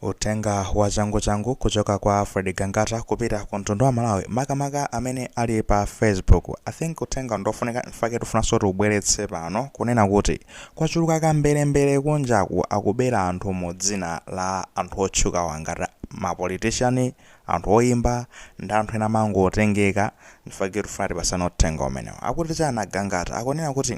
Uthenga wa changu changu kuchoka kwa Alfred Gangata kupita ku mtundu wa Malawi makamaka amene ali pa Facebook. I think uthenga ndofunika nchifake tufunanso tiubweretse pano kunena kuti kwachuluka akamberembere kunjaku akubera anthu mu dzina la anthu otchukawa ngati ma politician, anthu oimba ndi anthu ena amangotengeka. Nchifake tufuna tipasane uthenga umenewo. Akuti chani a Gangata? Akunena kuti.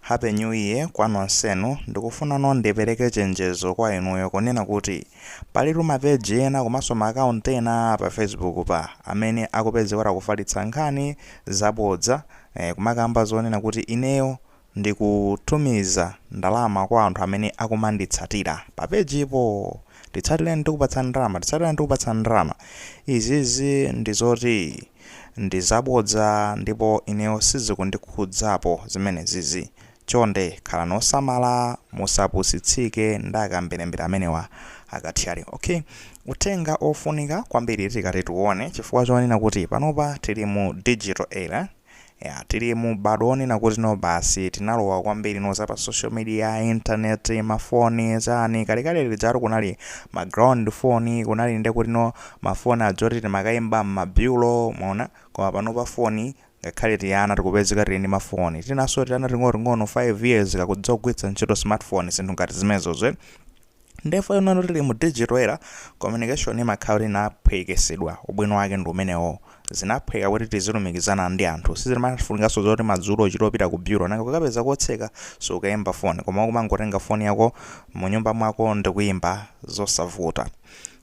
Happy New Year kwa nonsenu, ndikufunano ndipereke chenjezo kwa inuyo kunena kuti palitu ma page ena komanso ma account ena a pa Facebook pa amene akupezeka kuti akufalitsa nkhani zabodza kumakamba zonena kuti ineyo ndikutumiza ndalama kwa anthu amene akumanditsatira pa page po, nditsatireni ndikupatsani ndalama, nditsatireni ndikupatsani ndalama, izizi ndizoti. Ndizabodza ndipo ineyo sizikundikhudzapo zimenezizi. Chonde khalani osamala musapusitsike ndi akamberembere amenewa akathyali. Ok. Uthenga ofunika kwambiri tikati tiuone chifukwa chonena kuti panopa tili mu digital era Eya, tili mu m'badwo wonena kuti no basi, tinalowa kwambiri no za pa social media, internet, ma phone, chani, kalekale lijatu kunali ma ground phone, kunali nde kuti no ma phone aja oti timakaimba mma bureau, mwaona, koma panopa phone, ngakhale tiana tikupezeka tili ndi ma phone, tinanso tiana ting'onoting'ono 5 years kakudziwa kugwiritsa ntchito smart phone, zinthu ngati zimenezozo eti. ndefu ino no tili mu digital era communication imakhala kuti inaphwekesedwa ubwino wake ndi umenewo zinaphweka kuti tizilumikizana ndi anthu sizimafunikanso zoti madzulo uchita opita ku bureau nanga kukapeza kotseka sukayimba foni koma kumangotenga foni yako mu nyumba mwako ndi kuyimba zosavuta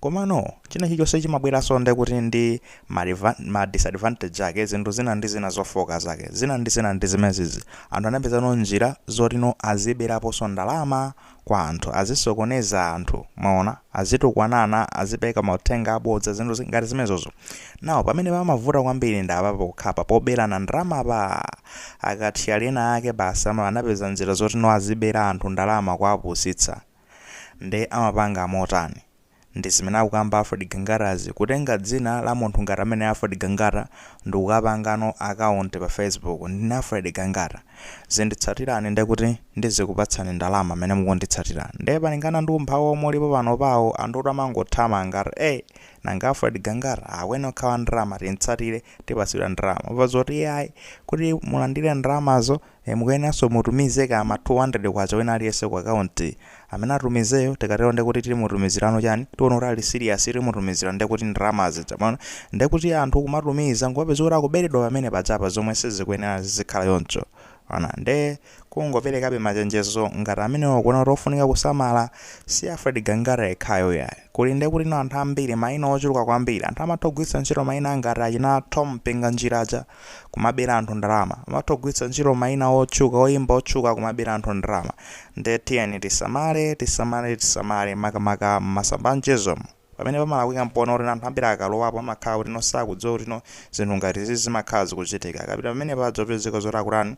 komano china chilichonse chimabweranso nde kuti ndi ma reva- ma disadvantage ake zinthu zina ndi zina zofooka zake zina ndi zina ndi zimezizi anthu anapezano njira zoti no aziberaponso ndalama kwa anthu, azisokoneza anthu, mwaona, azitukwanana, azipeka mauthenga abodza, zinthu zi- ngati zimenezozo. Nawo pamene pamavuta kwambiri ndi apapa pokhapa poberana ndalama pa akathyali ena ake basi ama anapeza njira zoti no azibera anthu ndalama kuwapusitsa. Nde amapanga motani? ndi zimene akukamba Alfred Gangatazi kutenga dzina la munthu ngati ameneyo Alfred Gangata ndikukapangano account pa Facebook ndine Alfred Gangata zinditsatirani ndekuti ndizikupatsani ndalama mene mukunditsatira nde palingana ndi umphawi omwe ulipo panopawu anthutu amangothamanga nanga Alfred Gangata mkweni okhawa ndalama timtsatire tipatsidwa ndalama pozoti iye ayi kuti mulandire ndalamazo Eeh mukuyeneranso mutumize kaya ma K200 wina aliyense ku account amene atumizeyo tikatero ndekuti timutumizirano chani tiona kuti ali serious timutumizira ndekuti ndalama zija mwaona ndekuti anthu kumatumiza nkumapeza kuti akuberedwa pamene pajapa zomwe sizikuyenera zizikhala choncho mwaona nde kungoperekabe machenjezo ngati amenewo kuona kuti ofunika kusamala si Alfred Gangata yekhayo iyayi kuli ndekutino anthu ambiri maina ochuluka kwambiri anthu amatha kugwiritsa ntchito maina ngati achina Thom Mpinganjira aja kumabera anthu ndalama, amatha kugwiritsa ntchito maina otchuka, oyimba otchuka kumabera anthu ndalama. Nde tiyeni tisamale, tisamale, tisamale makamaka m'masamba a mchezomu. Pamene pamalakwika mpoona kuti anthu ambiri akalowapo amakhala kutino sakudziwa kutino zinthu ngati izizi zimakhala zikuchitika. Akapita pamenepo adzapezeka zoti akutani,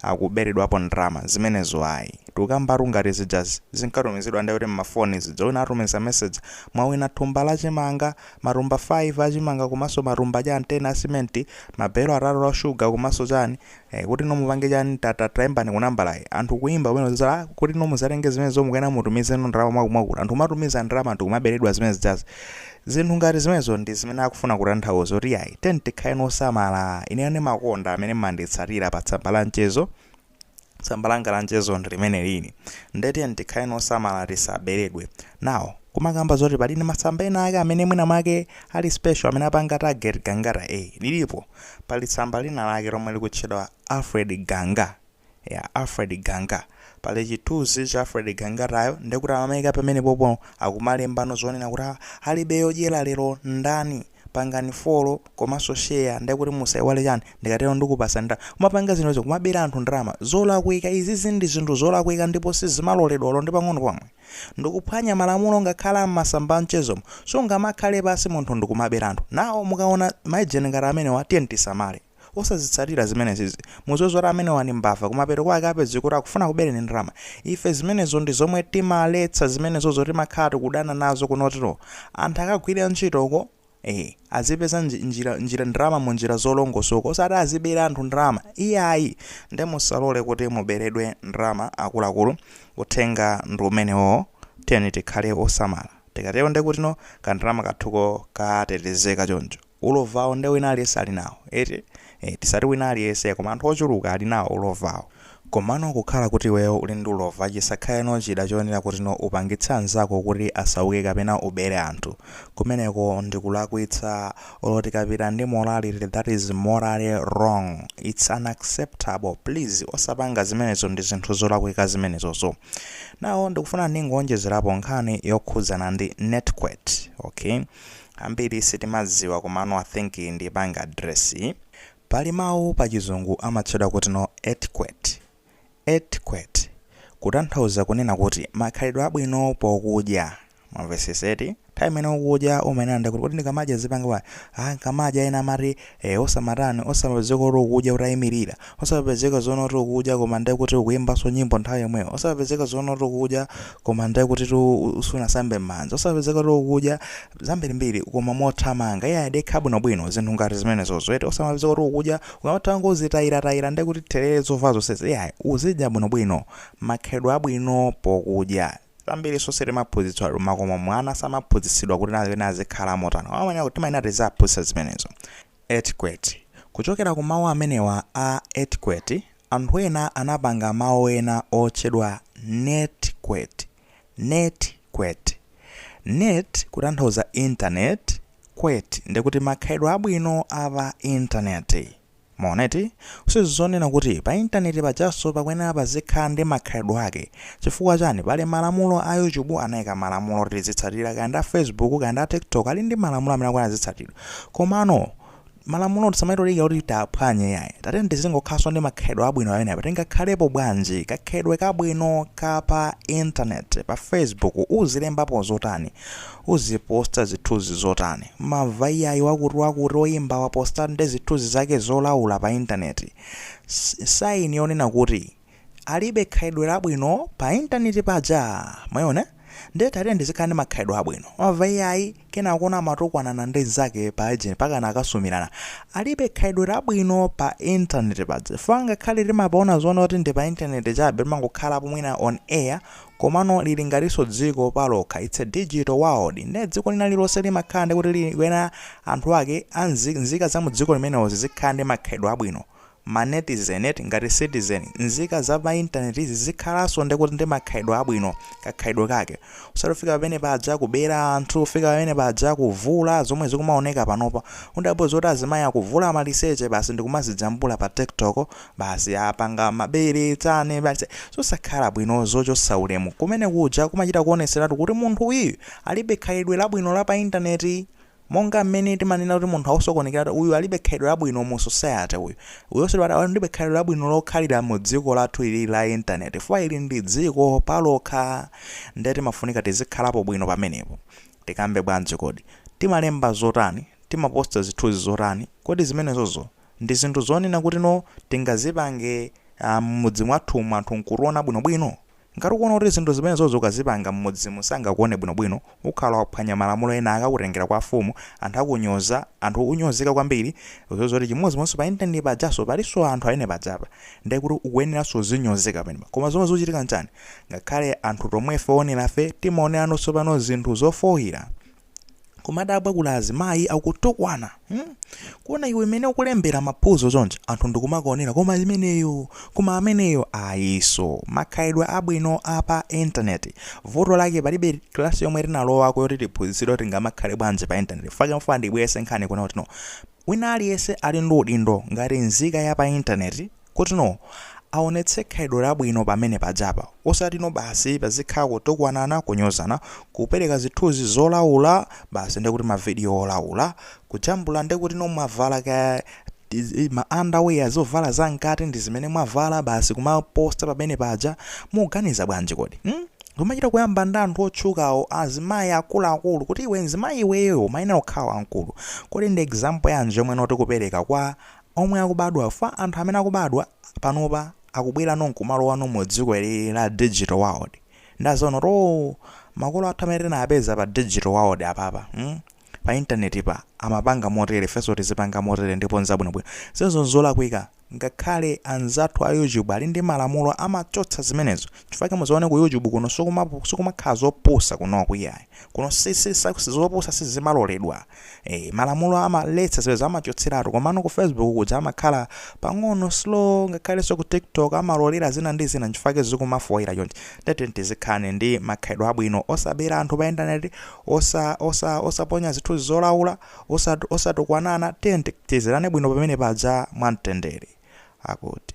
akuberedwapo ndalama zimenezo ayi tukambatu ngati zijazi zinkatumizidwa ndekuti mmafoni zija wina atumiza message mwawina thumba la chimanga, matumba 5 achimanga komanso matumba chani 10 a simenti, ma belo atatu a sugar komanso chani ee kutino mupange chani ta ta taimbani ku nambalayi anthu kuimba kumene kuwauza aa kutino muzatenge zimenezo mukuyenera mutumizeno ndalama mwaku mwakuti anthu kumatumiza ndalama anthu kumaberedwa zimene zijazi Zinthu ngati zimenezo ndi zimene akufuna kutanthauza kuti iyayi, tiyeni tikhaleni osamala, ineyo ndimakonda amene mmanditsatira pa tsamba la mchezo, tsamba langa la mchezo ndi limenelili, nde tiyeni tikhaleni osamala tisaberedwe. Now, kumakamba zoti pali ndi masamba ena ake amene mwina mwake ali special amene apanga target Gangata eeh, lilipo, pali tsamba lina lake lomwe likutchedwa Alfred Ganga, ya Alfred Ganga. Pali chithunzi cha Alfred Gangatayo ndekuti amamayika pamenepopo akumalembano zonena kuti alibe yodyera lero ndani pangani follow komanso share ndekuti musaiwale chani ndikatero ndikupasa ndalama kumapanga zinthuzo kumabera anthu ndalama zolakwika izizi ndi zinthu zolakwika ndipo sizimaloledwa olo ndi pang'ono pomwe ndikuphwanya malamulo ngakhala m'masamba amchezomo sungamakhale pasi munthu ndikumabera anthu now mukaona ma page ngati amenewa tiyeni tisamale. Osazitsatira zimenezizi. Muziwe zoti amenewa ndi mbava kumapeto kwake apezeka kuti akufuna kubereni ndalama. Ife zimenezo ndi zomwe timaletsa zimenezozo timakhala tikudana nazo kunotu. Anthu akagwire ntchito uko ee azipeza nji, njira, njira ndalama mu njira zolongosoka osati azibera anthu ndalama iyayi nde musalole kuti muberedwe ndalama akuluakulu uthenga ndi umenewoo tiyeni tikhale osamala tikatero ndekutino kandalama kathuko katetezeka choncho. Ulovawo nde wina aliyense alinawo eti? ee tisati wina aliyese koma anthu ochuluka alinawo ulovawo. Komano kukhala kuti iweyo uli ndi ulova chisakhaleno chida choyenera kutino upangitse anzako kuti asauke kapena ubere anthu. Kumeneko ndikulakwitsa olo tikapita ndi morality that is morally wrong its unacceptable please osapanga zimenezo ndi zinthu zolakwika zimenezozo. Now ndikufuna ndingoonjezerapo nkhani yokhudzana ndi netiquette ok. Ambiri sitimadziwa komano I think ndipanga address. Pali mawu pa chizungu amatchedwa kuti no etiquette, etiquette kutanthauza kunena kuti makhalidwe abwino pokudya mwamvetsetsa eti. Nthawi imene ukudya umayenera nde kuti kodi ndikamadya zipanga bwanji, ah nkamadya ena amati Eee osamatani osamapezeka kuti ukudya utayimilira, osamapezeka zoona kuti ukudya koma nde kuti ukuyimbanso nyimbo nthawi yomweyo, osamapezeka zoona kuti ukudya koma nde kutitu sunasambe m'manja, osamapezeka kuti ukudya zambirimbiri koma mothamanga iyayi dekha bwinobwino zinthu ngati zimenezozo eti, osamapezeka kuti ukudya ukamatangozitayiratayira nde kuti therere zovala zonsezi iyayi uzidya bwinobwino makhalidwe abwino pokudya. Zambirinso sitimaphunzitsidwatu mmakomo mwana samaphunzitsidwa kuti naye azikhala motani koma amayenera timayenera tiziaphunzitsa zimenezo. Etiquette. Kuchokera ku mawu amenewa a etiquette, anthu ena anapanga mawu ena otchedwa netiquette. Netiquette. Net kutanthauza internet, quette ndikuti makhalidwe abwino a pa intaneti. Mwaona eti? Sizonena kuti pa intaneti pajanso pakuyenera pazikhala ndi makhalidwe ake. Chifukwa chani? Pali malamulo a YouTube anaika malamulo oti tizitsatira, kaya ndi a Facebook, kaya ndi a TikTok ali ndi malamulo amene akuyenera azitsatidwa. Komano malamulowo tisamachite kudikira kuti tiaphwanye iyayi. Tatiyeni tizingokhalanso ndi makhalidwe abwino pamenepa. Tingakhalepo bwanji? Kakhalidwe kabwino ka pa intaneti, pa Facebook uzilembapo zotani? uziposta zithunzi zotani wamva iyayi wakuti wakuti oyimba waposta ndi zithunzi zake zolaula pa internet sign yonena kuti alibe khalidwe labwino pa internet paja mwaona nde tatiyeni tizikhala ndi makhalidwe abwino wamva iyayi wina akumatukwanana ndi nzake pa agent mpakana akasumirana alibe khalidwe labwino pa internet paja chifukwa ngakhale timapaona zoona kuti ndi pa internet chabe timangokhalapo mwina on air Komano lili ngatinso dziko palokha, its a digital world nde dziko lina lililonse limakhala ndi kuti likuyenera anthu ake a nzi nzika za mu dziko limenelo zizikhala ndi makhalidwe abwino, ma netizen eti, ngati citizen, nzika za pa internet zizikhalanso ndi kuti ndi makhalidwe abwino, kakhalidwe kake, osati kufika pamene paja kubera anthu, kufika pamene paja kuvula zomwe zikumaoneka panopa, mundapo zoti azimayi akuvula maliseche basi ndikumazijambula pa tiktok, basi apanga mabere tani basi zosakhala bwino zochotsa ulemu kumene kuja kumachita kuoneseratu kuti munthu uyu alibe khalidwe labwino la pa internet monga mmene timanena kuti munthu akusokonekera uyu alibe khalidwe labwino mu society uyu uyunso alibe khalidwe labwino lokhalira mu dziko lathu ili la internet chifukwa ili ndi dziko palokha ndiye timafunika tizikhalapo bwino pamenepo tikambe bwanji kodi timalemba zotani timaposta zithunzi zotani kodi zimenezozo ndi zinthu zonena kuti no tingazipange a mmudzi mwathumu anthu nkutuona bwinobwino? Ngati ukuona kuti zinthu zimenezozo ukazipanga mmudzimu sangakuone bwinobwino ukhala waphwanya malamulo ena akakutengera kwa afumu anthu akunyoza anthu unyozeka kwambiri udziwe zoti chimodzimodzi pa internet pajanso palinso anthu amene pajapa ndiye kuti ukuyeneranso uzinyozeka pamenepa koma zomwe zikuchitika nchani ngakhale anthu tomwefe oonerafe timaoneranso pano zinthu zofooira kumadabwa kuona azimayi akutukwana hmm? kuona iwe imene ukulembera maphuzo chonchi anthu ndikumakuonera koma imeneyo koma ameneyo ayinso makhalidwe abwino a pa intaneti vuto lake palibe klasi yomwe tinalowako yoti tiphunzitsidwe kuti tingamakhale bwanji pa intaneti chifukwa ndimafuna ndibweretse nkhani kunena kuti no wina aliyense ali ndi udindo ngati nzika ya pa intaneti Kuti no aonetse khalidwe labwino pamene pajapa osati no basi pazikhala kutukwanana, kunyozana, kupereka zithunzi zolaula basi ndikuti ma video olaula, kujambula ndikuti no mwavala kaya ma underwear zovala za mkati ndizimene mwavala basi kumaposta pamene paja mukuganiza bwanji kodi? Hmm? Zomachita kuyamba ndi anthu otchukawo azimayi akuluakulu kuti iwe mzimayi iweyo umayenera kukhala wamkulu. Kodi ndi example yanji yomwe ino tikupereka kwa omwe akubadwa chifukwa anthu amene akubadwa panopa akubwerano nkumalowano mu dziko ili la digital world nde adzaona kuti oo makolo athu amene tinawapeza pa digital world apapa mm? pa intaneti pa amapanga motere ifenso tizipanga motere ndipo nzabwinobwino zimenezo nzolakwika ngakhale anzathu a youtube ali ndi malamulo amachotsa zimenezo chifukwa mudzaone ku youtube kuno sikuma- sikumakhala zopusa kunoku iyayi kuno si- si- si- zopusa sizimaloledwa Eh, malamulo amaletsa zimenezo amachotseratu komano ku facebook kuja amakhala pang'ono slow ngakhalenso ku tiktok amalolera zina ndi zina nchifukwa zikumafooira chonchi ndati tizikhala ndi makhalidwe abwino osabera anthu pa intaneti osa osa osaponya zithunzi zolaula osat- osatukwanana tiye tizirane bwino pamene paja mwamtendere akuti